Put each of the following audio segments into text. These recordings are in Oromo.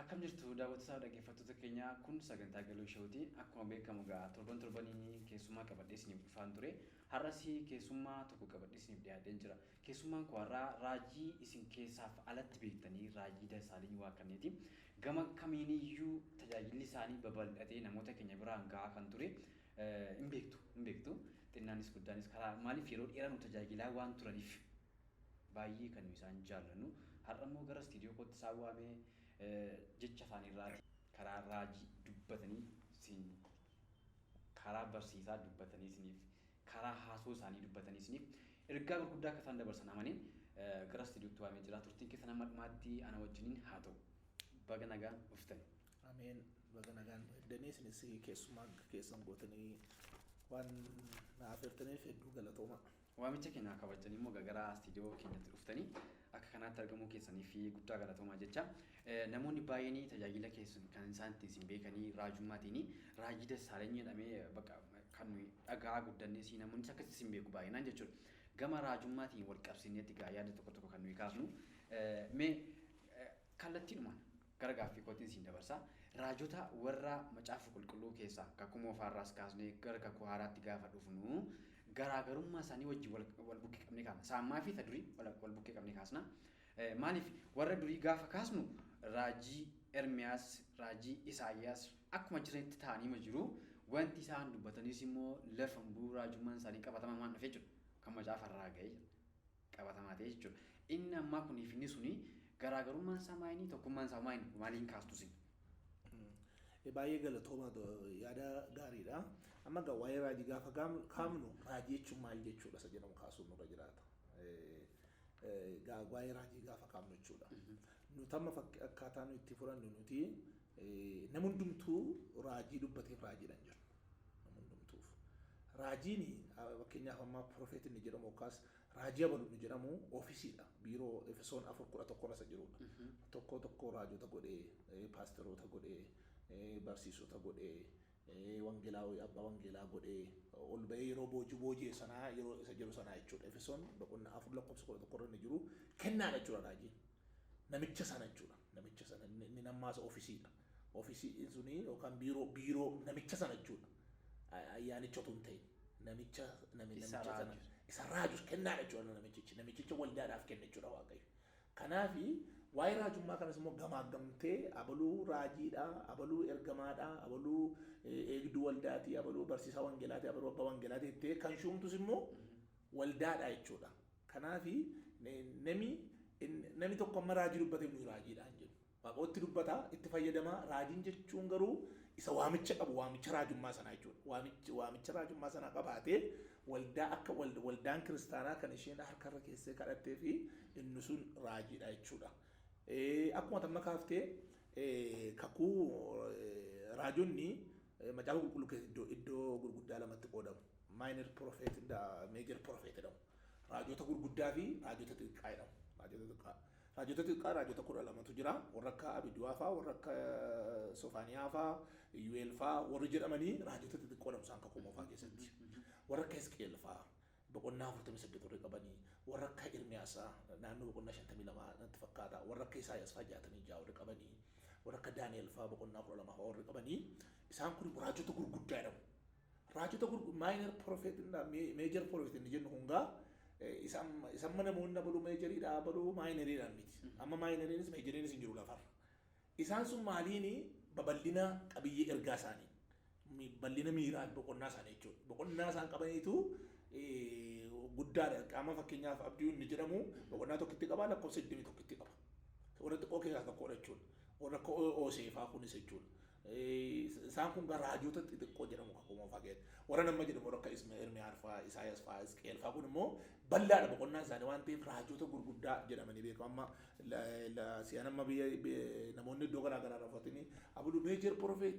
Akkam jirtu daawwattotaa fi dhaggeeffattoota keenya kun sagantaa Galoo Show ti. Akkuma beekamu egaa torban torbaniin keessummaa qabadhee isiniif dhufaan ture. Har'as keessummaa tokko qabadhee isiniif dhiyaadheen jira. Keessummaan koo har'aa raajii isin keessaaf alatti beektanii raajii Dassaaliny Waaqannee ti. Gama kamiiniyyuu tajaajilli isaanii babal'atee namoota keenya biraan ga'aa kan ture hin beektu hin beektu xinnaanis guddaanis karaa maaliif yeroo dheeraa nu tajaajilaa waan turaniif Baayyee kan nu isaan jaallannu. Har'a immoo gara istiidiyoo kootti isaan waamee jecha afaanii irraatii, karaa raajii dubbatanii siin karaa barsiisaa dubbatanii isiniif karaa haasoo isaanii dubbatanii isiniif ergaa gurguddaa akka isaan dabarsan amaneen gara istiidiyootti waamee jira. Turtiin keessan hamma dhumaatti ana wajjiniin haa ta'u. Baga nagaan dhuftan. Ameen baga nagaan nu eegdanii isinis keessummaa keessan gootanii waan na afeertaniif hedduu galatoomaa. Waamicha keenya kabajtanii immoo egaa gara istiidiyoo keenyatti dhuftanii akka kanaatti argamuu keessaniif guddaa galatoomaa jecha. Namoonni baay'een tajaajila keessan kan isaan ittiin isin beekanii raajummaatiin raajii Dassaalany jedhamee bakka kan nuyi dhaga'aa guddannee si namoonnis akkasitti isin beeku baay'inaan jechuudha. Gama raajummaatiin wal qabsiineetti egaa yaada tokko tokko kan nuyi kaafnu. Mee kallattiidhumaan Gara gaaffii kootiin isin dabarsa. Raajota warra Macaafa Qulqulluu keessaa, Kakuu Moofaa irraas kaasnee gara Kakuu Haaraatti gaafa dhufnu, garaa garummaa isaanii wajjin wal, wal bukkee qabnee kaafna. Isa ammaa fi isa durii wal, wal bukkee qabnee kaasna. Eh, Maaliif warra durii gaafa kaasnu raajii Ermiyaas, raajii Isaayyaas akkuma jiranitti ta'aniima jiru. Wanti isaan dubbatanis immoo lafan bu'uu raajummaan isaanii qabatamaan waan dhufee jiru kan macaafa irraa ga'ee jira. qabatamaa ta'e jechuudha. Inni ammaa kunii fi inni suni garaagarummaan isaa maayinii tokkummaan isaa maayinii maaliin kaastu sin? Baay'ee galatooma yaada gaariidha. Amma egaa waa'ee raajii gaafa kaafnu raajii jechuun maal jechuudha isa jedhamu kaasuun nurra jiraata. Waa'ee raajii gaafa kaafnu jechuudha. Nuti amma akkaataa nuti itti fudhannu nuti namni hundumtuu raajii dubbateef raajiidhaan jedhu. nama hundumtuuf. Raajiin fakkeenyaaf ammaa profeet inni jedhamu yookaas raajii abalu inni jedhamu oofisiidha. Biiroo Efesoon afur kudha tokko irra isa jirudha. Tokkoo tokkoo raajota godhee, eh, paasteroota godhee, eh, barsiisota godhee, eh, wangeelaa abbaa wangeelaa godhee ol ba'ee yeroo boojuu boojee sanaa yeroo isa jedhu sanaa jechuudha. Efesoon boqonnaa afur lakkoofsa kudha tokko irra inni jiru kennaadha jechuudha raajiin. Namicha sana jechuudha. Namicha sana inni inni nammaasa oofisiidha. Office in suni yookaan biiroo biiroo namicha sana jechuudha. A- Ayyaanicha otoo hin ta'in. Namicha nami- Isa namicha sana raajus. isa raajus kennaadha jechuudha namichichi. Namichicha waldaadhaaf kenna jechuudha Waaqayyo. Kanaaf waa'ee raajummaa kanas immoo gamaaggamtee abaluu raajiidha, abaluu ergamaadha, abaluu eh, eegduu waldaati, abaluu barsiisaa wangeelaati, abaluu abbaa wangeelaati jettee kan shuumtus immoo waldaadha jechuudha. Kanaaf nami in- nami tokko amma raajii dubbateef nuyi raajiidha hin jennu. Waaqootti dubbata, itti fayyadama. Raajiin jechuun garuu isa waamicha qabu, waamicha raajummaa sanaa jechuudha. Waamichi, waamicha raajummaa sanaa qabaatee waldaa akka wal, waldaan kiristaanaa kan isheen harka irra keessee kadhattee fi inni sun raajiidha jechuudha. Eh, akkuma tamma kaaftee eh, kakuu eh, raajonni eh, macaafa qulqulluu keessa iddoo, iddoo gurguddaa lamatti qoodamu. Minor prophet, da- major prophet jedhamu. Raajota gurguddaa fi raajota xixiqqaa jedhamu. Raajota xixiqqaa. Raajota xixiqqaa raajota kudha lamatu jira. Warra akka Abiduwaa faa, warra akka Sofaaniyaa faa, Iyyu'eel faa warri jedhamanii raajota xixiqqoo dha Musaan Kakuu Moofaa keessatti. Warra akka Hisqi'eel faa boqonnaa afurtamii saddeet warri qabanii, warra akka Ermiyaas faa naannoo boqonnaa shantamii lama natti fakkaata, warra akka Isaayyaas faa jaatamii ja'a warri qabanii, warra akka Daani'eel faa boqonnaa kudha lama faa warri qabanii isaan kun immoo raajota gurguddaa jedhamu. Raajota gurgu minor prophet dha, me- major prophet inni jennu kun gaa eh, isa amma- isa amma namoonni abaluu meejarii dha abaluu maayinariidhaan miti. Amma maayinariinis meejariinis hin jiru lafarra. Isaan sun maaliini babal'ina qabiyyee ergaa isaanii mi- bal'ina miiraa boqonnaa isaanii jechuudha. Boqonnaa isaan qabaniitu eh, guddaadha. Qaama fakkeenyaaf abdii inni jedhamu boqonnaa tokkotti qaba lakkoofsa 21tti qaba. Warra xiqqoo keessaa tokkodha jechuudha. Warra akka Ooseefaa kunis jechuudha. Isaan kun gaa raajota xixiqqoo jedhamu kakuu moofaa keessatti. Warra amma jedhamu warra akka Isma- Ermiyaas fa'aa, Isaayas fa'aa, Hisqi'el fa'aa kun immoo bal'aadha boqonnaan isaanii waan ta'eef raajota gurguddaa jedhamanii beekamu. Amma la- la- si'an amma biyya bi- namoonni iddoo garaa garaa irraa uffatanii abulu meejer profeet,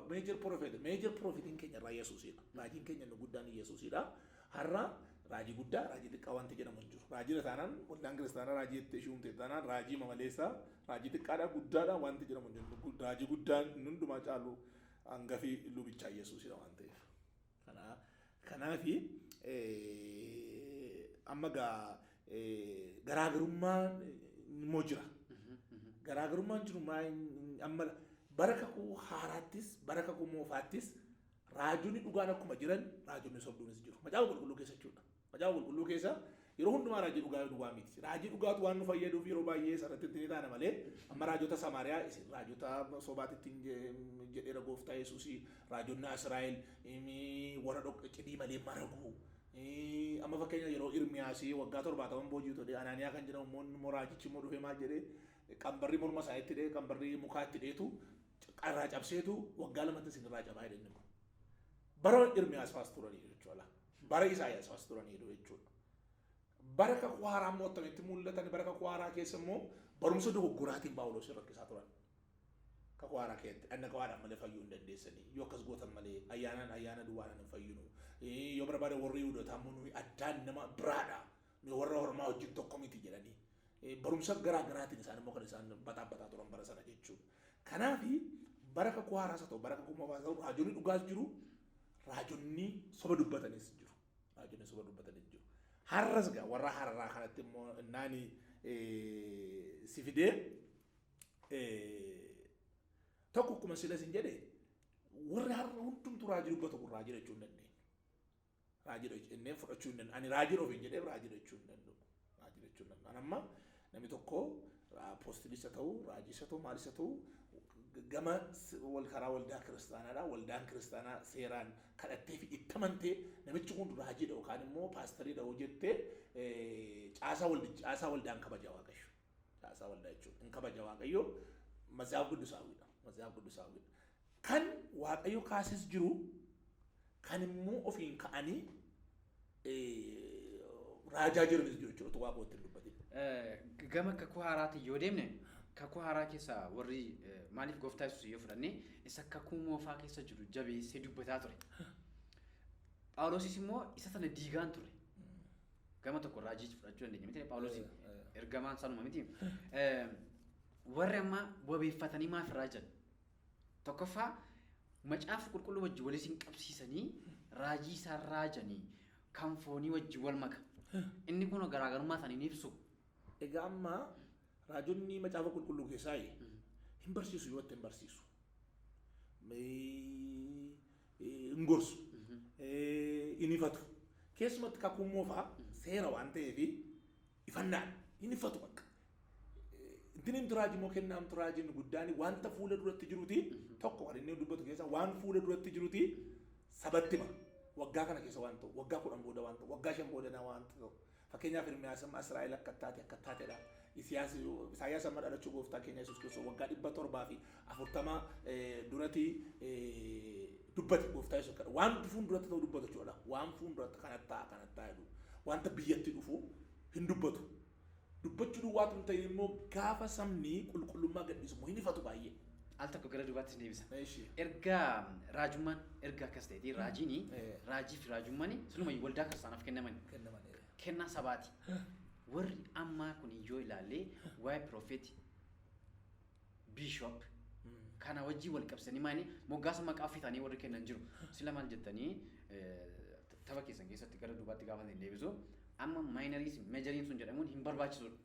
meejer profeet, meejer profeetiin keenya irraa Yesuusidha. Raajiin keenya inni guddaan Yesuusidha. Har'a raajii guddaa, raajii xiqqaa wanti jedhamu hin jiru. Raajiidha taanaan waldaan kiristaanaa raajii jettee ishii uumte taanaan raajii mamaleessaa, raajii xiqqaadhaa, guddaadhaa wanti jedhamu hin jiru. Raajii guddaan inni hundumaa caalu hangafi lubichaa Yesuusidha waan ta'eef. Kanaa kanaafi amma gaa garaagarummaan immoo jira. Garaagarummaan jiru maa amma bara kakuu haaraattis bara kakuu moofaattis Raajonni dhugaan akkuma jiran raajonni sobduunis jiru. Macaafa qulqulluu keessa jechuudha. Macaafa qulqulluu keessa yeroo hundumaa raajii dhugaa yoo duwwaa miti. Raajii dhugaatu waan nu fayyaduuf yeroo baay'ee sanatti itti ni taana malee amma raajota Samaariyaa isin raajota sobaatti ittiin je- jedheera gooftaa Yesuus raajonni Israa'el imi- warra dhoqqa cidii malee maragu. Ii, Amma fakkeenya yeroo Irmiyaasii waggaa torbaataman boojii todhe Anaaniyaa kan jedhamu immoo inni immoo raajichi immoo dhufee maal jedhee qambarri morma isaa itti dhee qambarri mukaa itti dheetu Carraa cabseetu waggaa lamatti isin irraa cabaa jedhe inni kun. Bara Irmiyaas faas turaniiru jechuudha. Bara Isaayaas faas turaniiru jechuudha. Bara kakuu haaraa immoo akkamitti mul'atan bara kakuu haaraa keessa immoo barumsa dogoggoraatiin Phaawulos rakkisaa turan. Kakuu haaraa keessatti dhagna qabaadhaan malee fayyuu hin dandeessanii yoo akkas gootan malee ayyaanaan ayyaana duwwaadhaan hin fayyinu. Yoo barbaade warri Yihudotaa immoo nuyi addaan nama biraadha. Mee warra hormaa wajjin tokko miti jedhanii eh, barumsa garaa garaatiin isaan immoo kan isaan baxaabbataa turan bara sana jechuudha. Kanaaf bara kakuu haaraas haa ta'u bara kakuu moofaa ta'u raajonni dhugaas jiru raajonni soba dubbatanis jiru. Raajonni soba dubbatanis jiru. Har'as gaa warra hararaa kanatti immoo naani eh, si fidee eh, tokko akkuma sila sin jedhe warri har'a hundumtu raajii dubbatu kun raajii jechuu hin dandeenye. Raajidha jennee fudhachuu hin danda'u. Ani raajidha ofiin jedhee raajidha jechuu hin danda'u. Raajidha jechuu hin danda'u. Amma namni tokko poostilisa ta'u, raajisa ta'u, maalisa ta'u gama wal karaa waldaa kiristaanaadha. Waldaan kiristaanaa seeraan kadhattee fi itti amantee namichi kun raajidha yookaan immoo paastariidha hoo jettee caasaa waldaan kabaja waaqayyo. Caasaa waldaa jechuun in kabaja Waaqayyoo Matsaaf Quddusaawwiidha. Matsaaf Quddusaawwiidha. Kan Waaqayyo kaases jiru kan immoo ofiin ka'anii raajaa jiranis jiru jechuudha. Utuu Waaqayyo ittiin dubbatin. Gama kakuu haaraatiin yoo deemne kakuu haaraa keessa warri maaliif gooftaa yesuus yoo fudhanne isa kakuu moofaa keessa jiru jabeessee dubbataa ture. Phaawulosis immoo isa sana diigaan ture. Gama tokko raajiis fudhachuu dandeenya miti Phaawulosiin ergamaan sanuma miti. Warri amma wabeeffatanii maaf irraa jiran? Tokkoffaa macaafa qulqulluu wajji wal isin qabsiisanii raajii isaan raajanii kan foonii wajji wal maka. Inni kun garaagarummaa isaanii ni ibsu. Egaa amma raajonni macaafa qulqulluu keessaa hin barsiisu yoo hin barsiisu. hin gorsu, hin ifatu. Keessumatti kakuun moofaa seera waan ta'eef ifannaan hin ifatu bakka. Ittiin himtu raajii immoo kennaa himtu raajiin guddaan wanta fuula duratti jiruti tokko kan inni dubbatu keessa waan fuula duratti jiruti sabatti hima. Waggaa kana keessa waan ta'u, waggaa kudhan booda waan ta'u, waggaa shan booda waan ta'u. Fakkeenyaaf Ermiyaas amma Israa'el akka ittaate akka ittaatedha. Isiyaas, Isaayyaas amma dhalachuu gooftaa keenya Yesuus Kiristoos waggaa dhibba torbaa fi afurtama duratti dubbate gooftaa Yesuus kana. Waan fuun duratti ta'u dubbatu jechuudha. Waan fuun duratti kana ta'a kana ta'a jedhu. Wanta biyyatti dhufu hin dubbatu. Dubbachuu duwwaatu hin ta'in immoo gaafa sabni qulqullummaa gadhiisu immoo hin ifatu baay'ee. al tokko gara duubaatti isin deebisa. Eeshi. Erga raajummaan erga akkas ta'eeti raajiini Eh. raajii fi raajummaan sunuma waldaa kiristaanaaf kennaman Kennaman. eh. kennaa sabaati. Warri ammaa kun yoo ilaalle waa'ee piroofeeti biishoop Mm. kana wajjin wal qabsanii maani moggaasa maqaa ofii taanii warri kennan jiru. Sila maal jettanii eh, tapha keessan keessatti gara duubaatti gaafa isin deebisu amma maayinariis meejariin sun jedhamuun hin barbaachisudha.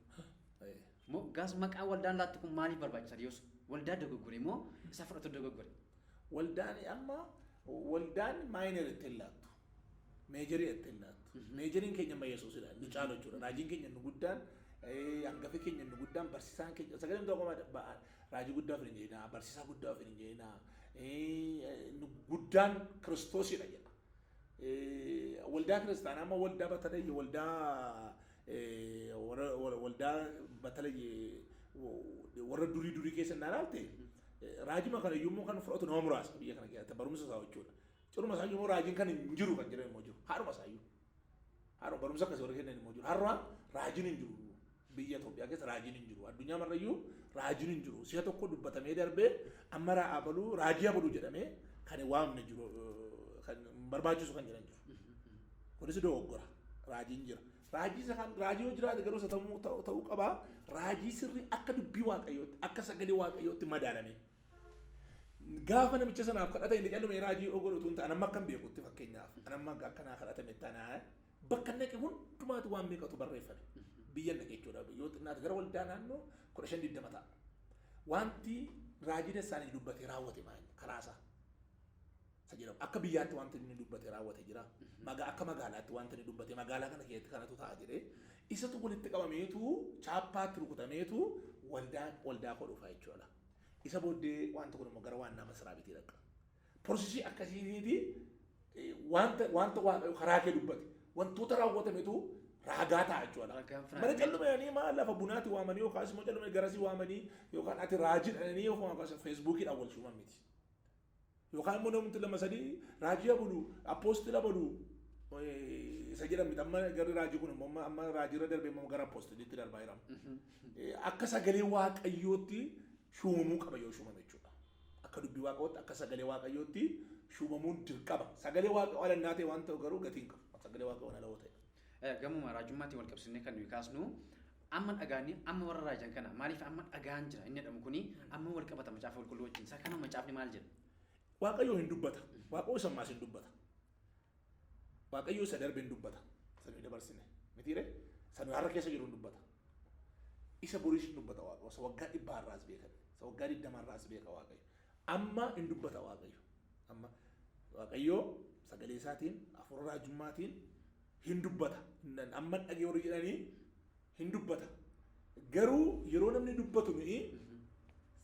Eh. Moggaas maqaa waldaan laattu kun maaliif barbaachisa yoos? Waldaa dogoggore moo isa fudhatu dogoggore? Waldaani amma waldaan minor itti hin laattu. Major itti hin laattu. Majoriin keenya amma Yesuusidha. Inni caalu jechuudha. Raajiin keenya inni guddaan, hangafi keenya inni guddaan, barsiisaan keenya, sagaleen tokko raajii guddaa ofiin hin jedhinaa, barsiisaa guddaa ofiin hin jedhinaa, inni guddaan Kiristoosidha jedha. Waldaa kiristaanaa amma waldaa batadayya, waldaa Waldaa batalay warra durii durii keessa hin ilaalte raajima kana yommuu kan fudhatu nama muraasa biyya kana keessatti barumsa isaa jechuudha. Ciruma isaa yommuu raajiin kan hin jiru kan jedhan immoo jiru. Haadhuma isaa iyyuu. Haadhuma barumsa akkasii warri kennan immoo jiru. Har'a raajiin hin jiru. Biyya Itoophiyaa keessa raajiin hin jiru. Addunyaa marra iyyuu raajiin hin jiru. Si'a tokko dubbatamee darbee amma raa abaluu raajii abaluu jedhamee kan waamne jiru kan barbaachisu kan jedhan jiru. Kunis dogoggora. Raajiin jira. Raajii isa kan raajii yoo jiraate garuu isa ta'uu ta'uu- ta'uu qaba. Raajii sirrii akka dubbii waaqayyootti akka sagalee waaqayyootti madaalamee. Gaafa namicha sanaaf kadhata inni callume raajii yoo godhu utuu hin ta'an amma akkan beekutti fakkeenyaaf an amma akka naa kadhatame tanaa bakka naqe hundumaatu waan meeqatu barreeffame. Biyya naqe jechuudha. Yoo xinnaate gara waldaa naannoo kudha shan digdama ta'a. Wanti raajii dessaanii dubbate raawwate maal karaasaa. isa jedhamu akka biyyaatti wanti inni dubbate raawwate jira. Magaa akka magaalaatti wanti inni dubbate magaalaa kana keessatti kanatu ta'a jedhee isatu walitti qabameetu chaappaatti rukutameetu waldaa waldaa koo dhufa jechuudha. Isa booddee wanti kun immoo gara waannaa masaraa bitii dhaqqa. Porsisii akkasiitiiti eh, wanta wanta waaqayyo karaa kee dubbate wantoota raawwatametu raagaa ta'a jechuudha. Ragaan firaanii. Mana callumeedhanii maal lafa bunaati waamanii yookaas immoo callumee garasii waamanii yookaan ati raajii dhananii yookaan feesbuukiidhaan wal shuuman miti. Yookaan immoo namumti lama sadii raajii abulu appoostila balu isa jedhan miti amma garri raajii kun immoo amma- amma raajii irra darbee immoo gara appoostiliitti darbaa jira. Eh, Akka sagalee waaqayyootti shuumamuu qaba yoo shuumame jechuudha. Akka dubbii waaqayyootti akka sagalee waaqayyootti shuumamuun dirqama. Sagalee waaqayyoo ala innaa ta'e waan ta'u garuu gatii hin qabu. Sagalee waaqayyoo ala yoo ta'e. Gamuma raajummaatiin wal qabsiisnee kan nuyi kaasnu amma dhagaanni amma warra raajan kana maaliif amma dhagaan jira inni jedhamu kuni amma wal qabata macaafa qulqulluu wajjin isaa kana macaafni maal jedha? Waaqayyoo hin dubbata. Waaqayyoo isa ammaas hin dubbata. Waaqayyoo isa darbe hin dubbata. Isa nuyi dabarsine. Mitiire? Isa nuyi har'a keessa jiru hin dubbata. Isa boriis hin dubbata Waaqayyoo. Isa waggaa dhibbaa irraas beekan. Isa waggaa digdama irraas beeka Waaqayyo. Amma hin dubbata Waaqayyo. Amma Waaqayyoo sagalee isaatiin hafuura raajummaatiin hin dubbata. Nan- Amma dhagee warri jedhanii hin dubbata. Garuu yeroo namni dubbatu nuyi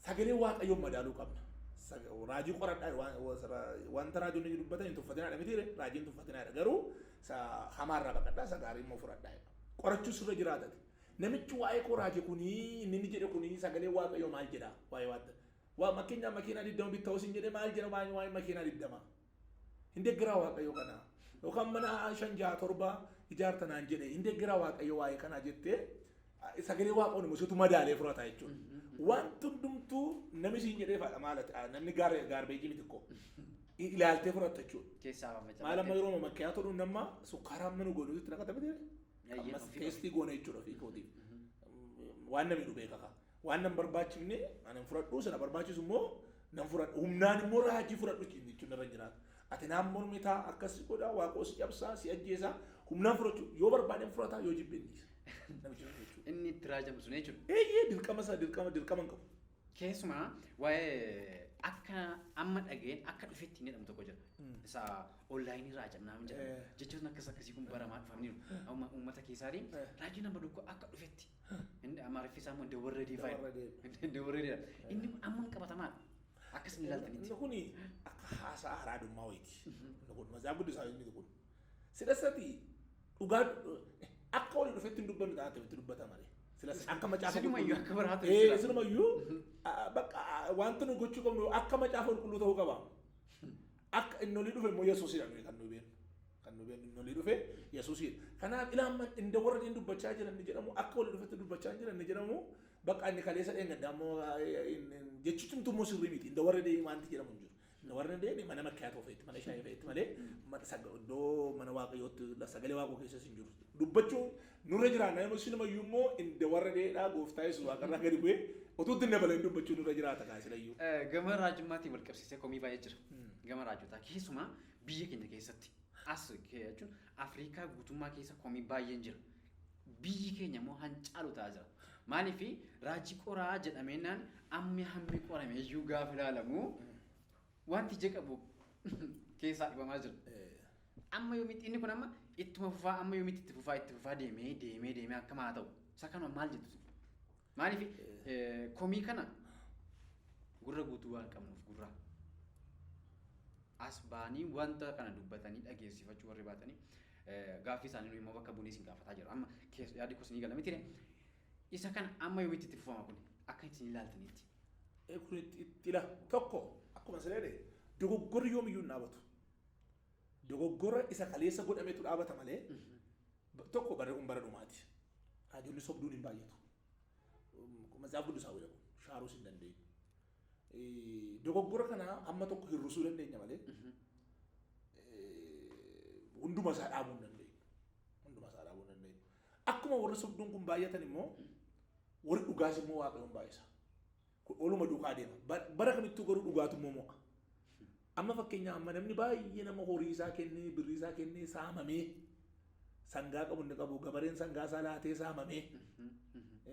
sagalee waaqayyoon madaaluu qabna. Sag- Raajii qoradhaa waan- waan- wanta raajonni iyyuu dubbatan hin tuffatinaadha miti raajii hin tuffatinaadha garuu isa hamaarraa baqadhaa isa gaarii immoo fudhadhaa jedha. Qorachuu sirra jiraatati. Namichi waa'ee koo raajii kunii inni inni jedhe kunii sagalee waaqayyoo maal jedha waa'ee waanta Waa makenyaa makiinaa digdama bitta hosin jedhe maal jedha waan waan makiinaa digdama. Hin deggeraa waaqayyo kana. Yookaan mana shan jaha torba ijaarta naan jedhe hin deggeraa waaqayyo waa'ee kanaa jettee sagalee waaqoon immoo situ madaalee furata jechuudha. Wanti hundumtuu namni siin jedhee faadha maal ati namni gaar gaarbeejii miti koo ilaaltee furatta jechuudha. Keessaa fafacaafte. Maal amma yeroo makkiyaa tolu namma sukkaara amma nu goonu itti naqata miti. Eeyyee, Ammas ofii teestii goona jechuudha ofii kootiif. Waan namni nu beeka kaa. Waan nan barbaachifne ana hin fudhadhu, isa na barbaachisu immoo nan fudhadha. Humnaan immoo raajii fudhadhu ittiin jechuun irra hin jiraatu. Ati naan mormita, akkas si godha, waaqoo si cabsa, si ajjeesa. Humnaan fudhachuu yoo barbaade hin fudhata, yoo jibbe hin dhiisa. Namichi sun jechuudha. Inni itti raajamu sun jechuudha. Eeyyee dirqama isaa dirqama dirqama hin qabu. Keessumaa waa'ee akka amma dhaga'een akka dhufetti hin jedhamu tokko jira. Isa onlaayinii raajannaa hin jedhamu. Eh. Jechoonni akkas akkasii kun baramaa dhufaniiru. Amma uummata keessaatiin Eh. raajiin amma tokko akka dhufetti Inni Amaariffi isaa immoo Dawarradii fa'i. Dawarradii. Dawarradii. Inni kun ammam qabatamaa akka isin ilaaltanitti. Inni kuni akka haasaa haraadummaa wayiiti. Inni kun mazaa guddisaa inni kun. Silassati dhugaa akka walii dhufetti hin dubbannu ta'a akkamitti dubbata malee. Silas akka macaafa Isinumayyuu akka biraa ta'e Eh, isinumayyuu ah, bakka ah, wanti nu gochuu qabnu akka macaafa qulqulluu ta'uu qaba. Akka inni olii dhufe immoo Yesuusidha nuyi kan nuyi beeknu. Kan nu beeknu inni olii dhufe Yesuusiidha. Kanaaf ilaamman inda warra inni dubbachaa jiran ni jedhamu akka olii dhufetti dubbachaa hin jiran ni jedhamu bakka inni kaleessa dheengadda ammoo jechi cimtu immoo sirrii miti inda warra deebii maanti jedhamu hin jiru. Inda warra deebii mana makkiyaa ta'uu feetti mana shaayii feetti malee iddoo mana waaqayyootti sagalee waaqoo keessas hin jiru. Dubbachuun nurra jiraanna yoo silumayyuu immoo inda warra deedhaa gooftaa yesuus waaqarraa gadi bu'ee utuu itti dabaleen dubbachuun nurra jiraata kaasilayyuu. Gama raajummaatiin wal qabsiisee komii baay'ee jira. Gama raajotaa keessumaa Biyya keenya keessatti, as jechuun Afriikaa guutummaa keessa komii baay'een jira. Biyyi keenya immoo han caalu ta'aa jira. Maaliif raajii qoraa jedhameennaan ammi hammi qorame iyyuu gaafa ilaalamu wanti ija qabu keessaa dhibamaa jira. Amma yoomitti inni kun amma ittuma fufaa amma yoomitti itti fufaa itti fufaa deemee deemee deemee akkam haa ta'u. Isa kanuma maal jettu? Maaliif komii kana gurra guutuu waan qabnuuf gurra as ba'anii wanta kana dubbatanii dhageessifachuu warri baatanii gaaffii isaanii nu immoo bakka bunee isin gaafataa jira. Amma yaadi kos ni galame tire. Isa kana amma yoomitti itti fufama kun akka isin ilaaltanitti. Kun itti ila tokko akkuma sireede dogoggorri yoomiyyuu hin dhaabatu. Dogoggora isa kaleessa godhametu dhaabata malee 1 barri kun bara dhumaati. Raajonni sobduun hin baay'atu. Matsaafa Quddusaa wayii dhabu. Shaaruus hin dandeenyu. Dogoggora kana amma tokko hir'isuu dandeenya malee hunduma isaa dhaabuu hin dandeenyu. Hunduma isaa dhaabuu hin dandeenyu. Akkuma warri sobduun kun baay'atan immoo warri dhugaas immoo waaqayyoon baay'isa. Kun oluma duukaa deema. Bara kamittuu garuu dhugaatu immoo mo'a. Amma fakkeenyaa amma namni baay'ee nama horii isaa kennee birrii isaa kennee saamamee sangaa qabu inni qabu gabareen sangaa isaa laatee saamamee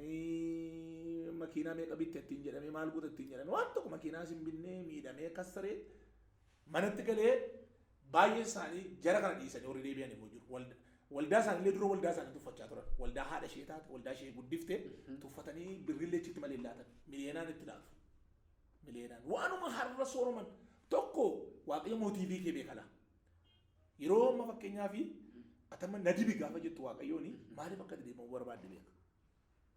ee, makiinaa meeqa bitte ittiin jedhamee maal goota ittiin jedhamee waan tokko makiinaa isin binnee miidhamee kassaree manatti galee baay'ee isaanii jara kana dhiisanii horii deebi'an immoo jiru. Walda- Waldaa isaaniillee dura waldaa isaanii tuffachaa turan. Waldaa haadha ishee taate, waldaa ishee guddifte tuffatanii birriillee achitti malee hin laatan. Miliyoonaan itti laatu. Mileenaan waanuma har'a sooroman tokko waaqayyo mootiivii kee beeka laa. Yeroo amma fakkeenyaa fi atama na dibi gaafa jettu waaqayyoon maaliif akka deebi'u barbaadde beeka.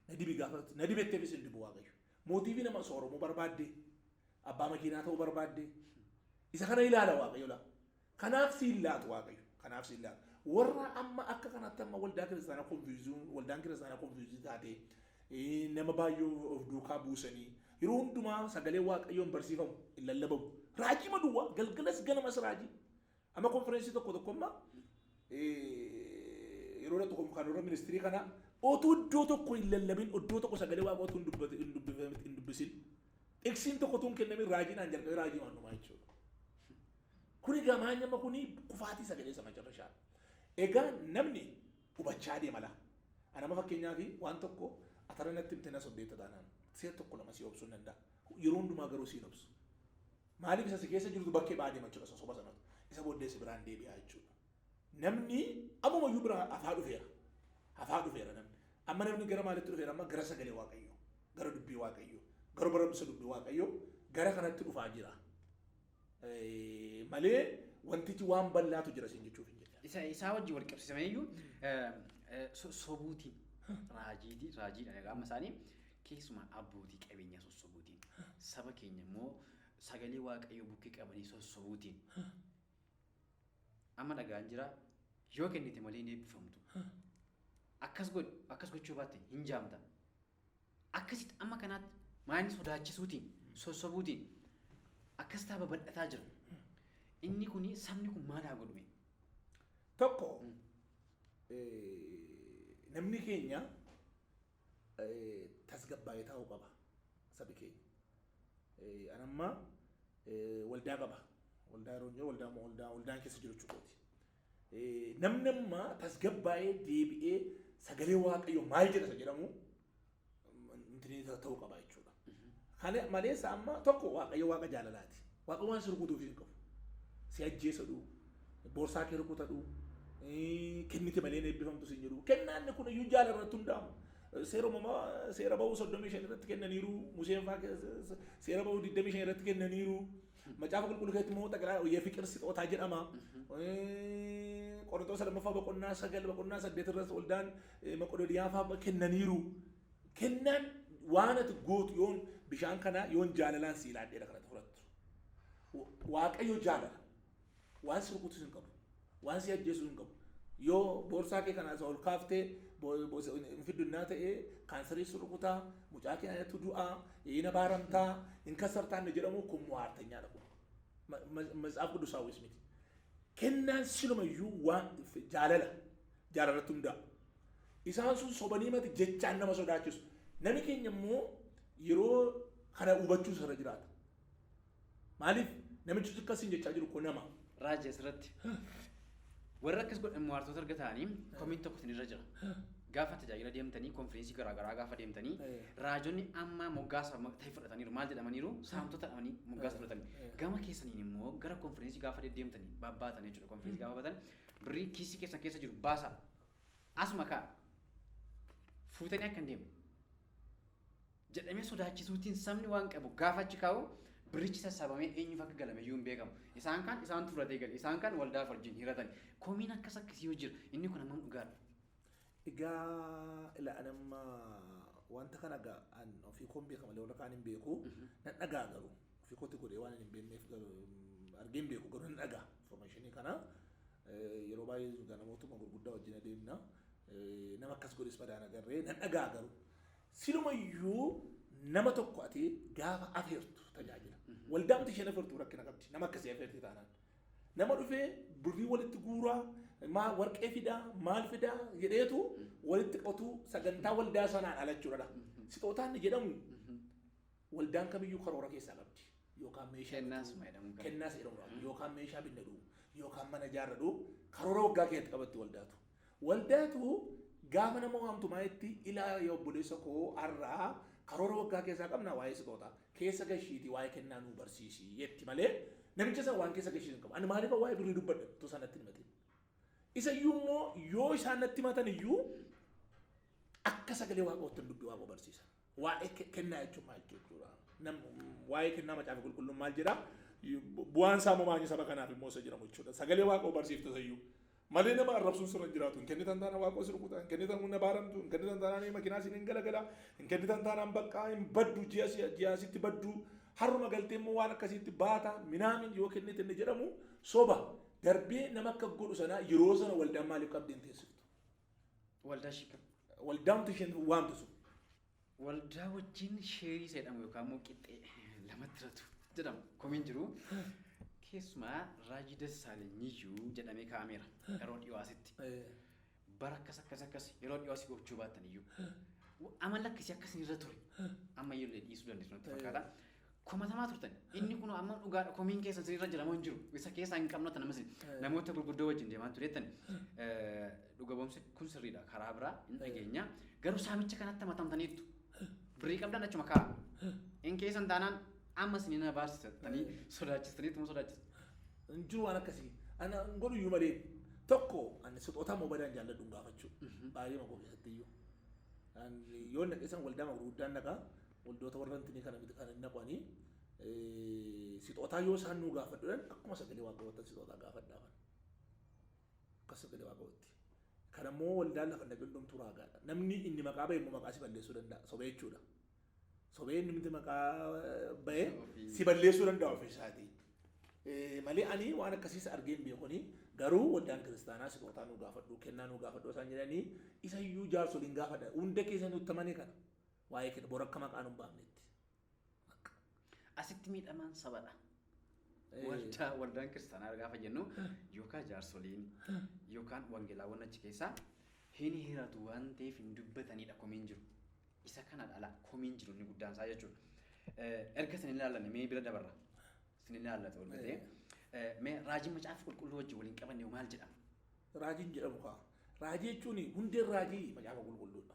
Na dibi gaafa na dibetteefis hin dibu waaqayyo. Mootiivii nama sooromuu barbaadde abbaa makiinaa ta'uu barbaadde isa kana ilaala waaqayyo laa. Kanaaf si hin laatu Waaqayyo. Kanaaf si hin laatu. Warra amma akka kanatti amma waldaa kiristaanaa konfiyuuzuun waldaan kiristaanaa konfiyuuzii taatee eh, nama baay'ee of duukaa buusanii yeroo hundumaa sagalee waaqayyoon barsiifamu hin lallabamu. Raajii maduwwaa galgalas ganamas raajii. Amma konfereensii tokko tokko amma eh, yeroo tokko kan warra ministirii kanaa otuu iddoo tokko hin lallabin iddoo tokko sagalee waaqaa otuu hin dubbate- hin dubbifame- hin dubbisin dhiksiin tokko tun kennamin raajiidhaan jalqabee raajii waan dhumaa jechuudha. Kuni gamaanyama kuni kufaatii sagalee isa macarrashaa. Egaa namni hubachaa deema laa. Anama fakkeenyaaf waan tokko atara natti himte na sobdeetta taanaan seet tokko lama si obsuun danda'a. Yeroo hundumaa garuu siin obsu. Maaliif isa si keessa jirtu bakkee ba'aa deema jechuudha sosoba sanatu. Isa booddee si biraan deebi'aa jechuudha. Namni ammuma iyyuu bira hafaa dhufeera. Hafaa dhufeera namni. Amma namni gara maalitti dhufeera amma gara sagalee waaqayyoo. Gara dubbii waaqayyoo. Gara barumsa dubbii waaqayyoo gara kanatti dhufaa jira. malee wantichi waan bal'aatu jira siin jechuuf hin jedha. Isa isaa wajjin wal qabsiisame iyyuu sobuutiin raajiitii raajiidhaan egaa amma isaanii keessumaa abbootii qabeenyaa sossobuutiin saba keenya immoo sagalee waaqayyoo bukkee qabanii sossobuutiin amma dhagaan jira yoo kennite malee hin eebbifamtu akkas godhi akkas gochuu baatte hin jaamta Akkasitti amma kanaatti maayini sodaachisuutiin, sossobuutiin akkasitaa babal'ataa jira. Inni kun sabni kun maal haa godhume? Tokko namni keenya tasgabbaa'ee taa'uu qaba sabi keenya. Anammaa waldaa qaba. Waldaa yeroo hin jiru waldaa waldaan keessa jiru jechuudha. Namni amma tasgabbaa'ee deebi'ee sagalee waaqayyo maal jedha isa jedhamu intinii ta'uu qaba jechuudha. Kana malees amma tokko waaqayyo waaqa jaalalaati. Waaqa waan si rukutuuf hin qabu. Si ajjeesa dhuu, boorsaa kee rukuta dhuu, kennite malee hin eebbifamtu siin jedhu. Kennaan kun iyyuu jaalala irratti hundaa'u. Seera uumamaa seera ba'uu 35 irratti kennaniiru, Museen fa'aa seera ba'uu 25 irratti kennaniiru. Macaafa qulqulluu keessatti immoo xaqilaa hoyyee fiqir sixootaa jedhama. Qorontoota lammaffaa boqonnaa sagal boqonnaa saddeet irratti waldaan maqodooniyaafaa kennaniiru. Kennaan waan ati gootu yoon bishaan kanaa yoon jaalalaan si ilaadheedha kanatti fudhattu. Waaqayyo jaalala. Waan si rukutus hin qabu. Waan si ajjeesus hin qabu. Yoo boorsaa kee kana isa ol kaaftee hin fiddunnaa ta'e kaansarii si rukutaa, mucaa kee anatu du'aa, ina baaramtaa, hin kassartaa inni jedhamu kun muhaartanyaadha kun. Matsaaf quddusaawwis miti. Kennaan silumayyuu waan jaalala jaalarratti hundaa'u. Isaan sun sobanii mati jechaan nama sodaachisu. Nami keenya immoo yeroo kana hubachuu irra jiraata. Maaliif namichi utuu akkas siin jechaa jiru koo nama. Raaji asirratti warri akkas godhan maartoota erga ta'anii komiin tokko isinirra jira. Gaafa tajaajila deemtanii konfirensii garaa garaa gaafa deemtanii Eh. raajonni amma moggaasa ma- ta'e fudhataniiru maal jedhamaniiru saamtota jedhamanii moggaasa fudhatanii gama keessaniin immoo gara konfirensii gaafa deddeemtanii babbaatan jechuudha konfirensii gaafa baatan birrii kiisii keessan keessa jiru baasa asuma kaa fuutanii akka hin deemne jedhamee sodaachisuutiin sabni waan qabu gaafa achi kaa'u birrichi sassaabamee eenyuuf akka galame iyyuu hin beekamu. Isaan kaan isaan turatee gale. Isaan kaan waldaaf wajjin hiratan. Komiin akkas akkasii yoo jira inni kun hammam dhugaadha? Egaa ila an amma wanta kana ga- an ofii koon beeka malee warra kaan hin beeku nan dhagaa garuu ofii kooti godhee waan hin beekneef garuu mm, argee hin beeku garuu nan dhagaa informationii kana eh, yeroo baay'ee egaa namootuma gurguddaa wajjin adeemna eh, nama akkas godhes badaan agarree nan dhagaa garuu Silumayyuu nama tokko ati gaafa afeertu tajaajila. Waldaamti isheen afeertu rakkina qabdi. Nama akkasii afeerti taanaan. Nama dhufee birrii walitti guuraa maa warqee fidaa maal fidaa jedheetu walitti qotuu sagantaa waldaa sanaan ala jechuudha. Sixootaan ni jedhamu waldaan kamiyyuu karoora keessaa qabdi. Yookaan meeshaa Kennaas bituu, jedhamu kan. kennaas jedhamu yookaan meeshaa binnadhu yookaan mana ijaarradhu karoora waggaa keessatti qabatti waldaatu. Waldaatu gaafa nama waamtu maayitti ilaa ya obboleessa koo har'aa karoora waggaa keessaa qabna waa'ee sixoota keessa gashiiti waa'ee kennaa nuu barsiisi jetti malee namicha san waan keessa gashiisu hin qabu. Ani maaliif waa'ee birrii dubbadha utuu isaan natti hin himatin. Isa iyyuu immoo yoo isaan natti himatan iyyuu akka sagalee waaqoottan dubbii waaqoo barsiisa. Waa'ee ke- kennaa jechuun maal jechuudha? Nam- Waa'ee kennaa macaafa qulqulluun maal jedha? Bu- Bu'aan isaa immoo maal saba kanaaf immoo isa jedhamu jechuudha. Sagalee waaqoo barsiifta sayyuu. Malee nama arrabsuun sirra hin jiraatu. Hin kennitan taana waaqoo si rukuta. Hin kennitan humna baaramtu. Hin kennitan taanaan makinaa siin hin galagala. Hin kennitan taanaan baqqaa hin baddu. Ji'a si- ji'a sitti baddu. Harruma galtee immoo waan akkasiitti baata. Minaamin yoo kennite inni jedhamu soba. Darbee nama akka godhu sanaa yeroo sana waldaan maaliif qabdeen teessiftu? Waldaa shika. Waldaamtu isheen waamtu sun. Waldaa wajjin sheerii seedhamu yookaan immoo qixxee lamatti ratu jedhama. Komiin jiru keessumaa Raajii Dassaalenyiyyuu jedhamee kaa'ameera yeroo dhiyoo asitti. Bara akkas akkas akkas yeroo dhiyoo asii gochuu baattan iyyuu. Amala akkasii akkasii irra ture. Amma iyyuu illee dhiisuu dandeessu natti fakkaata. komatamaa turtan inni kun amma dhugaadha komiin keessan sirrii irra jira moo hin jiru isa keessaa hin qabnu tan ammas namoota gurguddoo wajjin deemaa tureettan dhuga boomsi kun sirriidha karaa biraa hin dhageenya garuu saamicha kanatti matamtaniittu birrii qabdan achuma kaa hin keessan taanaan ammas ni na baarsitanii sodaachistaniitu moo sodaachistu hin jiru waan akkasii ana hin godhu iyyuu malee tokko ani sixootaa moobaayilaan jaalladhu hin gaafachuu baay'ee magoo keessatti iyyuu Ani yoo naqeessan waldaa magurguddaan naqaa Waldoota warra hintinii kana miti kan hin naqwani. Sixootaa yoo isaan nuu gaafadhu jedhan akkuma sagalee waaqayyoottan sixootaa gaafadhaafan. Akkas sagalee waaqayyootti. Kana immoo waldaan lafa hin dhaqin hundumtuu raagaadha. Namni inni maqaa ba'e immoo maqaa si balleessuu danda'a. Sobee jechuudha. Sobee inni miti maqaa ba'e si balleessuu danda'a ofii isaatii. Eh, Malee ani waan akkasiis argee hin beekuni garuu waldaan kiristaanaa sixootaa nuu gaafadhu kennaa nuu gaafadhu isaan jedhanii isa iyyuu jaarsoliin gaafadha hunda keessa nutti amane kana. Waa'ee kee dha. Bor akka maqaa nu hin baafnetti. Bakka. Asitti miidhamaan sabadha. Ee. Waldaa waldaan kiristaanaa gaafa jennu yookaan jaarsoliin yookaan wangeelaawwan achi keessaa hin hiratu waan ta'eef hin dubbatanidha komiin jiru. Isa kana dhala komiin jiru inni guddaan isaa jechuudha. Eh, Erga isin hin ilaallanne mee bira dabarra. Isin hin ilaallatu ol gatee. Eh, Mee raajiin macaafa qulqulluu wajjin waliin qabanne hoo maal jedhama? Raajiin jedhamu kaa. Raajii jechuun hundeen raajii macaafa qulqulluudha.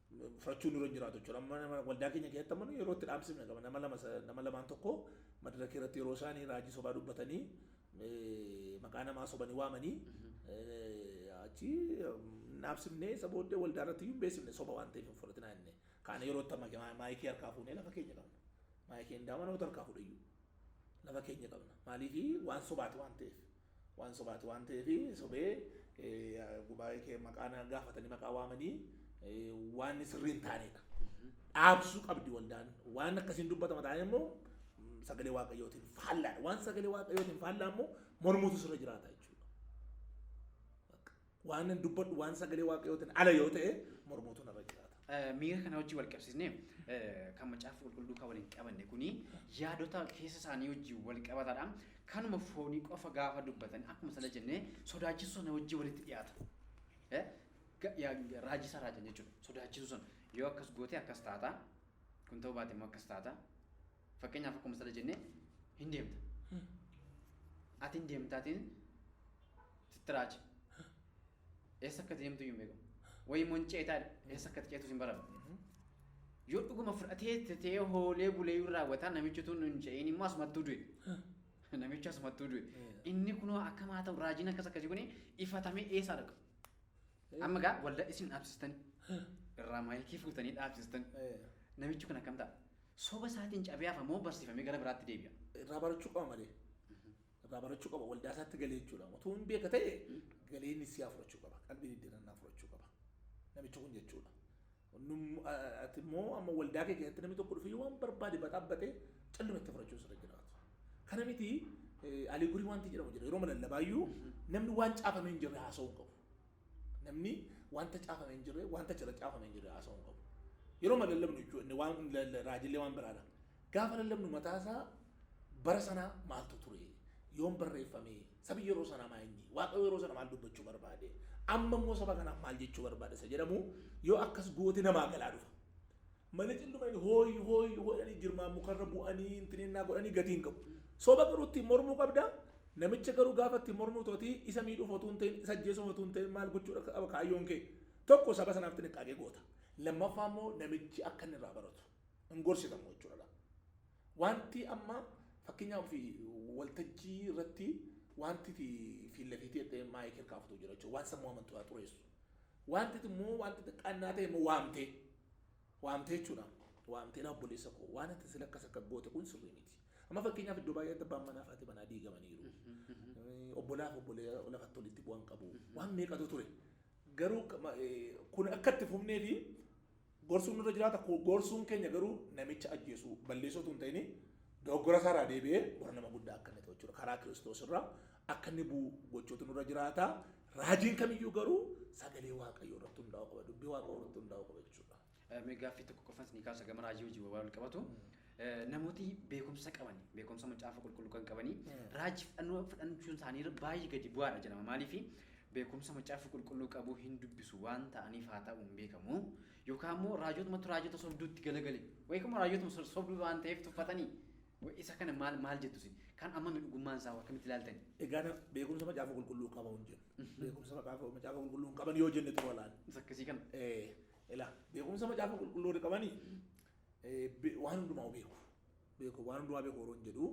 fudhachuun nurra hin jiraatu jechuudha. Amma nama waldaa keenya keessatti amma nu yeroo itti dhaamsifne qaba. Nama lama sa- nama lamaan tokko madaraka irratti yeroo isaanii raajii sobaa dubbatanii eh, maqaa namaa sobanii waamanii eh, achi mm, dhaamsifnee isa booddee waldaa irratti iyyuu hin beeksifne soba waan ta'eef hin fudhatinaa jennee. Kaana yeroo itti amma maayikii harkaa fuunee lafa keenya qabna. Maayikii hin daama namoota harkaa fuudhe iyyuu. lafa keenya qabna maaliif waan sobaati waan ta'eef waan sobaati waan ta'eef sobee gubaa'ee kee maqaa na gaafatanii maqaa waamanii waan sirrii hin taanedha. Dhaabsuu qabdi waldaan waan akkasiin dubbatama taa'ee immoo sagalee waaqayyootiin faallaadha waan sagalee waaqayyootiin faallaa immoo mormuutu sirra jiraata jechuudha. Waanan dubbadhu waan sagalee waaqayyootiin ala yoo ta'e mormuutu narra jiraata. Eh, miira kana wajjin wal qabsiisnee eh, kan macaafa qulqulluu kan waliin qabanne kuni yaadota keessa isaanii wajjin wal qabatadha. Kanuma foonii qofa gaafa dubbatan akkuma sana jennee sodaachisuu sana wajjin walitti dhiyaata. Eh, ga- yaa- Raajii isaa raajan jechuudha. Sodaachisuu sana yoo akkas gootee akkas taata kun ta'uu baate immoo akkas taata. Fakkeenyaaf akkuma sila jenne hin deemta. Ati hin deemtaatiin sitti raaje. Eessa akka deemtu hin beekamu. Wayii immoo hin ceetaa jedha. Eessa akka ceetus hin baramu. Yoo dhuguma fudhatee tetee hoolee buleeyyuu raawwataa namichi tun hin ce'iin immoo asumattuu du'e. Namichi asumattuu du'e. Inni kunoo akkam haa ta'u raajiin akkas akkasii kuni ifatamee eessaa dhaqa. Amma gaa waldaa isin dhaabsistanii irraa maayikii fuutanii dhaabsistanii. Namichi kun akkam ta'a? Soba isaatiin cabee hafa moo barsiifamee gara biraatti deebi'a? Irraa barachuu qaba malee. Irraa barachuu qaba waldaa isaatti galee jechuudha. Otoo hin beeka ta'e galee inni siyaa fudhachuu qaba. Qalbii diddirannaa fudhachuu qaba. Namichi kun jechuudha. Num- a- Ati immoo amma waldaa kee keessatti namni tokko dhufee waan barbaade baxaabbatee calluma itti fudhachuun sirra jiraatu. Kana miti eh, alii gurii wanti jedhamu jira. Yeroo lallabaayyuu namni waan caafamee hin jirre haasa'uu hin qabu. Namni wanta caafame hin jirre, wanta achirra caafame hin jirre haasa'uu hin qabu. Yeroo ma lallabnu jechuudha, inni waan inni lalla- raajillee waan biraadha. Gaafa lallabnu mataa isaa bara sanaa maaltu ture? Yoom barreeffame? Sabi yeroo sanaa maa inni? Waaqayyo yeroo sana maal dubbachuu barbaade? Amma immoo saba kanaaf maal jechuu barbaada? Isa jedhamu yoo akkas goote namaa galaa dhufa. Malitin dhumani hooy hooy hooyani girmaa mukarra bu'anii intinennaa godhanii gatii hin qabu. Soba garuu ittiin mormuu qabda. Namicha garuu gaafa ittiin mormuu tootii isa miidhuuf otuu hin ta'in isa ajjeesuuf otuu hin ta'in maal gochuu akka qaba kaayyoon kee. Tokko saba sanaaf xinniqqaaqee goota. Lammaffaa immoo namichi akka inni irraa baratu. Hin gorsitamu jechuudha laa. Wanti amma fakkeenyaaf fi waltajjii irratti wanti ti fiilla fiitee jettee maayikii kaafutu jira jechuudha. Waan sammuu amantu haa xureessu. Wanti ti immoo wanti xiqqaannaa ta'e immoo waamtee. Waamte jechuudha. Waamte ilaa obboleessa koo waan ati sila akkas akka goote kun sirrii miti. Amma fakkeenyaaf iddoo baay'eetti abbaan manaa fi haati manaa diigamaniiru. Eh, Obbolaa fi obbolee lafatti walitti bu'an qabu. Waan meeqatu ture. Garuu ka- ma- eh, kun akka itti fufnee fi gorsuun nurra jiraata. Ku- Gorsuun keenya garuu namicha ajjeesuu balleessuu utuu hin ta'in dogoggora isaarraa deebi'ee warra nama guddaa akka inni ta'u jechuudha. Karaa Kiristoos irraa akka inni bu'u gochuutu nurra jiraata. Raajiin kamiyyuu garuu sagalee Waaqayyoo irratti hundaa'uu qaba. Dubbii Waaqayyoo irratti hundaa'uu qaba jechuudha. Eh, Mee gaaffii tokko qofan isinii kaasa gama raajii hojii bobaa wal qabatu. Eh, Namooti beekumsa qabani, beekumsa macaafa qulqulluu kan qabani, raajii fudhannoo fudhachuun isaanii irra baay'ee gadi bu'aadha jedhama. Maaliif beekumsa macaafa qulqulluu qabu hin dubbisu waan ta'aniif haa ta'u hin beekamu. Yookaan immoo raajotumatu raajota sobduutti galagale. Yookaan immoo raajotuma so- sobduu waan ta'eef tuffatanii. Wa'ee isa kana maal maal jettu isin? Kaan ammami dhugummaan isaa hoo akkamitti ilaaltani? Egaa na, beekumsa Macaafa Qulqulluu qaba yoon jennu, beekumsa Maqaafa, Macaafa Qulqulluu hin qaban yoo jenne xuroo laal. Isa akkasii kana. Ee, ilaa, beekumsa Macaafa Qulqulluu warri qabani, ee, be, waan hundumaa beeku. Beeku, waan hundumaa beeku yeroon jedhu,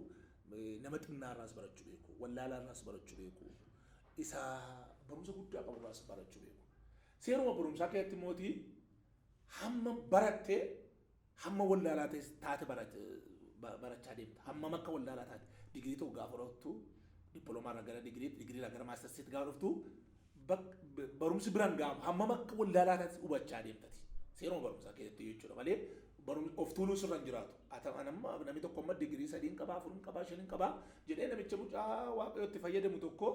ee, nama xinnaa irraas barachuu beeku, wallaalaa irraas barachuu beeku, isa barumsa guddaa qabu irraas barachuu beeku. Seeruma barumsaa keessatti immoo ti, hamma baratte Hamma wallaalaa ta'es taate barachaa deemta. Hammam akka wallaalaa taate digirii tokko gaafa horattu dippiloomaa irraa gara digiriitti, digirii irraa gara maastarsiitti gaafa dhuftu barumsi biraan gaafa hammam akka wallaalaa taate hubachaa deemtati. Seeruma barumsaa keessatti jechuudha malee barumsi of tuuluu sirra hin jiraatu. Atamaan amma namni tokko amma digirii sadiin qabaa, afurin qabaa, shanin qabaa jedhee namicha mucaa waaqayyootti fayyadamu tokko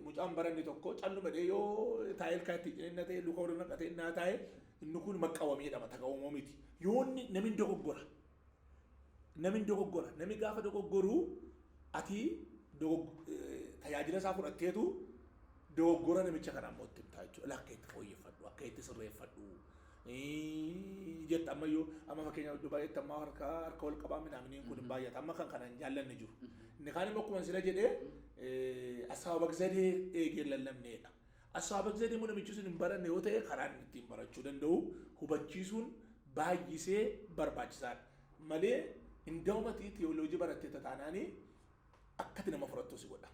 Mucaan baranne tokko calluma dhee yoo taa'ee ilkaa ittiin cinenna ta'e luka warra naqatee innaa taa'e inni kun maqqawamee dhama tagawumoo miti. Yoonni namin dogoggora. Namin dogoggora. Nami gaafa dogoggoruu ati tajaajila isaa fudhatteetu dogoggora namicha kana ammoo itti himtaa jechuudha. Akka itti fooyyeffadhu, akka itti sirreeffadhu. Iiiii jetta amma iyyuu amma fakkeenyaaf iddoo baay'eetti amma harka harka wal qabaa minaaminiin kun hin baay'ata amma kan kana hin jaallanne jiru. Inni kaan immoo akkuma sila jedhee assaabaqzadee eegee lallabneedha. Assaabaqzadee immoo namichi sun hin baranne yoo ta'e karaan ittiin barachuu danda'u hubachiisuun baay'isee barbaachisaadha. Malee hin da'umati tiyooloojii barattee tataanaanii Akka ati nama fudhattu si godha.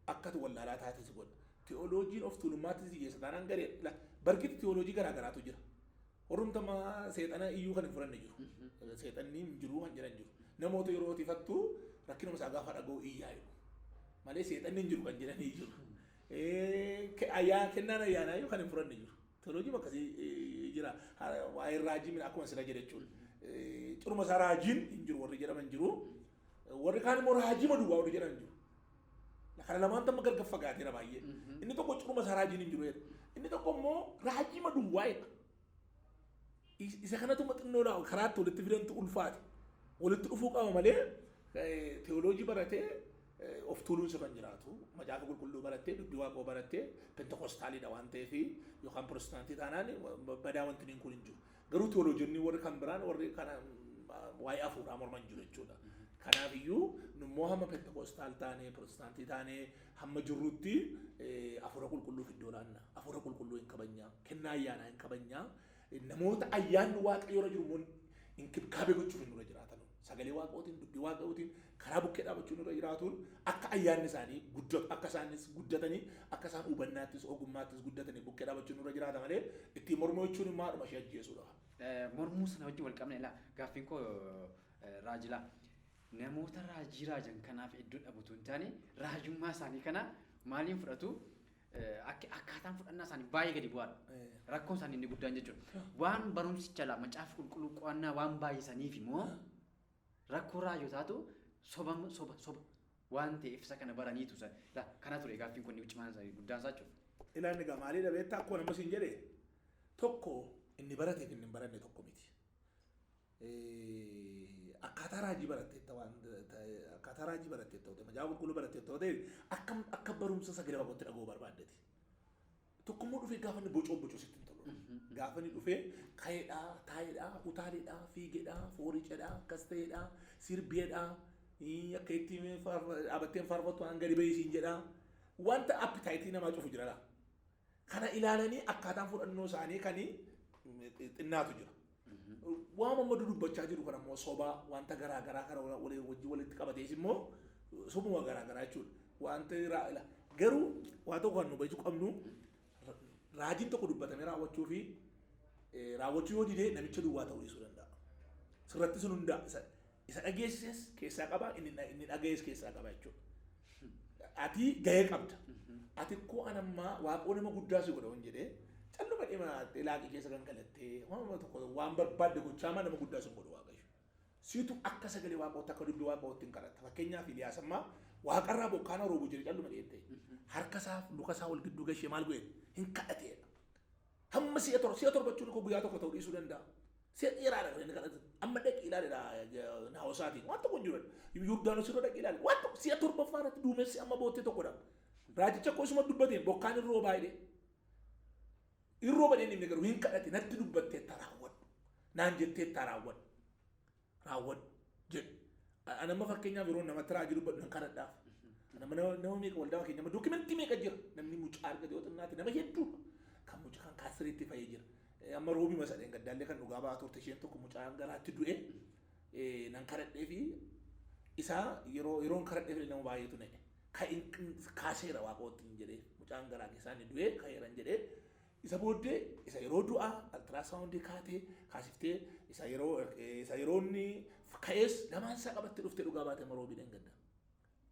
Akka ati wallaalaa taate si godha. Ti'ooloojiin of tuulummaatti si geessa taanaan gareedha. La, barkitti ti'ooloojii garaa garaatu jira. Warrumti amma seexana iyyuu kan hin fudhanne jiru. Seexanni hin jiru kan jedhan jiru. Namoota yeroo tifattu rakkinuma isaa gaafa dhaga'u iyyaa jedhu. Malee seexanni hin jiru kan jedhan hin jiru. Eh, ke- ayyaa- Kennaan ayyaanaa iyyuu kan hin fudhanne jiru. Ti'ooloojii akkasii eh, jira. Ha- Waa'ee raajii mina akkuma sila jedhe jechuudha. Eh, Ciruma isaa raajiin hin jiru warri jedhaman jiru. Warri kaan immoo raajima duwwaa warri jedhan jiru. Kana lamaan tamma gargar fagaateera baay'ee. Inni tokko ciruma isaa raajiin hin jiru jedha. Inni tokko immoo raajima duwwaa jedha. Is- Isa kanatu maxxannoo laa karaatti walitti fidantu ulfaate. Walitti dhufuu qaba malee eh, teoloojii baratee eh, of tuuluun sirra hin jiraatu. Macaafa qulqulluu barattee dubbii waaqoo barattee pentekostaaliidha waan ta'eef yookaan pirotestaantii taanaan badaa wanti niin kun hin jiru. Garuu teoloojonni warri kan biraan warri kana waa'ee hafuuraa morman jiru jechuudha. Kanaaf iyyuu nummoo hamma pentekoostaal taanee pirootestaantii taanee hamma jirrutti hafuura qulqulluuf iddoo laanna. Hafuura qulqulluu hin kabajnaa. Kennaa ayyaanaa hin kabajnaa. Namoota ayyaanni waaqayyoorra jiru immoo inkibkaabee gochuuf hin dura jiraatanu. Sagalee Waaqootiin, dubbii Waaqayootiin karaa bukkee dhaabachuun irra jiraatuun akka ayyaanni isaanii guddatu, akka isaanis guddatanii, akka isaan hubannaattis, ogummaattis guddatanii bukkee dhaabachuun irra jiraata malee ittiin mormuu jechuun immoo haadhuma ishee ajjeesuudha. Eh, mormuu sana wajjin wal qabna ilaa gaaffiin koo eh, raajilaa namoota raajii raajan kanaaf iddoo dhabutu hin taane raajummaa isaanii kana maaliin fudhatu Akki akkaataan fudhannaa isaanii baay'ee gadi bu'aadha. Rakkoon isaanii inni guddaan jechuudha. Waan barumsicha laa macaafa qulqulluu qo'annaa waan baay'isaniif immoo rakkoo raajootaatu soba soba soba waan ta'eef isa kana baraniitu isa laa kana ture gaaffiin kun cimaan isaa guddaan isaa jechuudha. Ilaa inni gamaalee dhabeetta akkuma namas hin jedhe tokko inni barateef inni hin baranne tokko miti. akkaataa raajii baratteetta waan akkaataa raajii baratteetta ta'e macaafa qulqulluu baratteetta ta'e akka akka barumsa sagalee waaqootti dhaga'uu barbaaddeti. Tokkummoo dhufee gaafa inni bocoo bocoo sitti hin tolu. Gaafa inni dhufee ka'eedhaa, taa'eedhaa, utaaleedhaa, fiigeedhaa, fooriceedhaa, akkas ta'eedhaa, sirbeedhaa, akka itti dhaabatteen faarfattu waan gadi ba'ee siin jedhaa. Wanta appitaayitii namaa cufu jira laa. Kana ilaalanii akkaataan fudhannoo isaanii kan xinnaatu jira. Waan amma dudubbachaa jiru kan ammoo sobaa wanta garaa garaa kan waliin wajjin walitti qabatees immoo sobuma garaa garaa jechuudha. Wanta raa- ila- garuu waan tokko kan nu beekuu qabnu ra- raajiin tokko dubbatamee raawwachuu fi eh, raawwachuu yoo didee namicha duwwaa ta'uu dhiisuu danda'a. Sirratti sun hundaa isa Isa dhageessises keessaa qaba, inni dha- inni dhagayees keessaa qaba jechuudha. Ati gahee qabda. Ati koo an ammaa waaqoo nama guddaa si godha hin jedhee calluma dhimaattee laaqii keessa kan galattee waan tokko waan barbaadde gochaa maa nama guddaa sin godhu waaqayyo. Siitu akka sagalee waaqootti akka dubbii waaqootti hin kadhatta. Fakkeenyaaf Iliyaas ammaa waaqarraa bokkaana roobu jedhe calluma dheettee harka isaa luka isaa wal gidduu gashee maal godhe hin kadhateedha. Hamma si'a torba, si'a torba jechuun koo guyyaa tokko ta'uu dhiisuu danda'a. Si'a dheeraadha kan inni kadhatu. Amma dhaqi ilaalidha naawasaatiin. Waan tokko hin jiru. Yordaanos irra dhaqi ilaali. Waan tokko si'a torbaffaa irratti duumessi amma boottee tokkodha. Raajicha koo isuma dubbateen bokkaan hin roobaa jedhee. Hin rooba jedhee inni garuu hin kadhate natti dubbatteetta raawwadhu. Naan jetteetta raawwadhu. raawwadhu jedhu. Ani amma fakkeenyaaf yeroo namatti raajii dubbadhu nan kadhadhaaf. Nama nama nama meeqa waldaa keenya nama dookimentii meeqa jira namni mucaa argate yoo xinnaate nama hedduu kan mucaa kan kaasiriitti fayee jira. Eh, Amma roobii masadheen gaddaallee kan dhugaa ba'aa turte isheen tokko mucaa garaatti du'e eh, nan kadhadhee fi isaa yeroo yeroon kadhadhee fi nama baay'eetu na'e. Ka in- kaaseera waaqootti hin jedhee mucaan garaa keessaa inni du'e ka'eera hin jedhee Isa booddee isa yeroo du'aa altiraasawundii kaatee kaasiftee isa yeroo isa yeroo inni ka'ees lamaan isaa qabatte dhuftee dhugaa baate amma roobii dheengadda.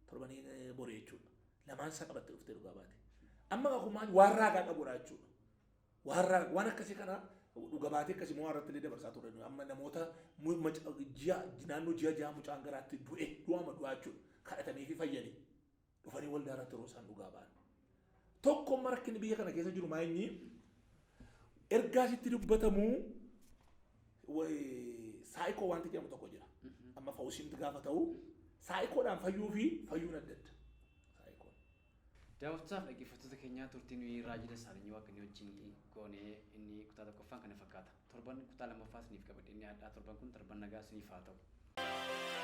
Torbanii borii jechuudha. Lamaan isaa qabatte dhuftee dhugaa baate. Amma kakuu maali waan raagaa qabuudha jechuudha. Waan raagaa waan akkasii kana dhuga baatee akkasii moo irratti illee dabarsaa turre nuyi amma namoota mu- maca- ji'a naannoo ji'a ja'a mucaan garaatti du'e du'aama du'aa jechuudha. Kadhatamee fi fayyanii. dhufanii waldaa irratti yeroo isaan dhugaa ba'an. Tokko amma rakkinni biyya kana keessa jiru maa inni ergaa sitti dubbatamu way- saayikoo wanti jedhamu tokko jira. Amma fawusiimti gaafa ta'u saayikoodhaan fayyuu fi fayyuun adda adda. Saayikoon. Daawwattootaaf dhaggeeffattoota keenyaa turtii nuyi raajii dassaalinyi waaqni wajjin goonee inni kutaa tokkoffaan kana fakkaata. Torban kutaa lammaffaa isiniif qabadhee dhiyaadhaa torban kun torban nagaa isiniif haa ta'u.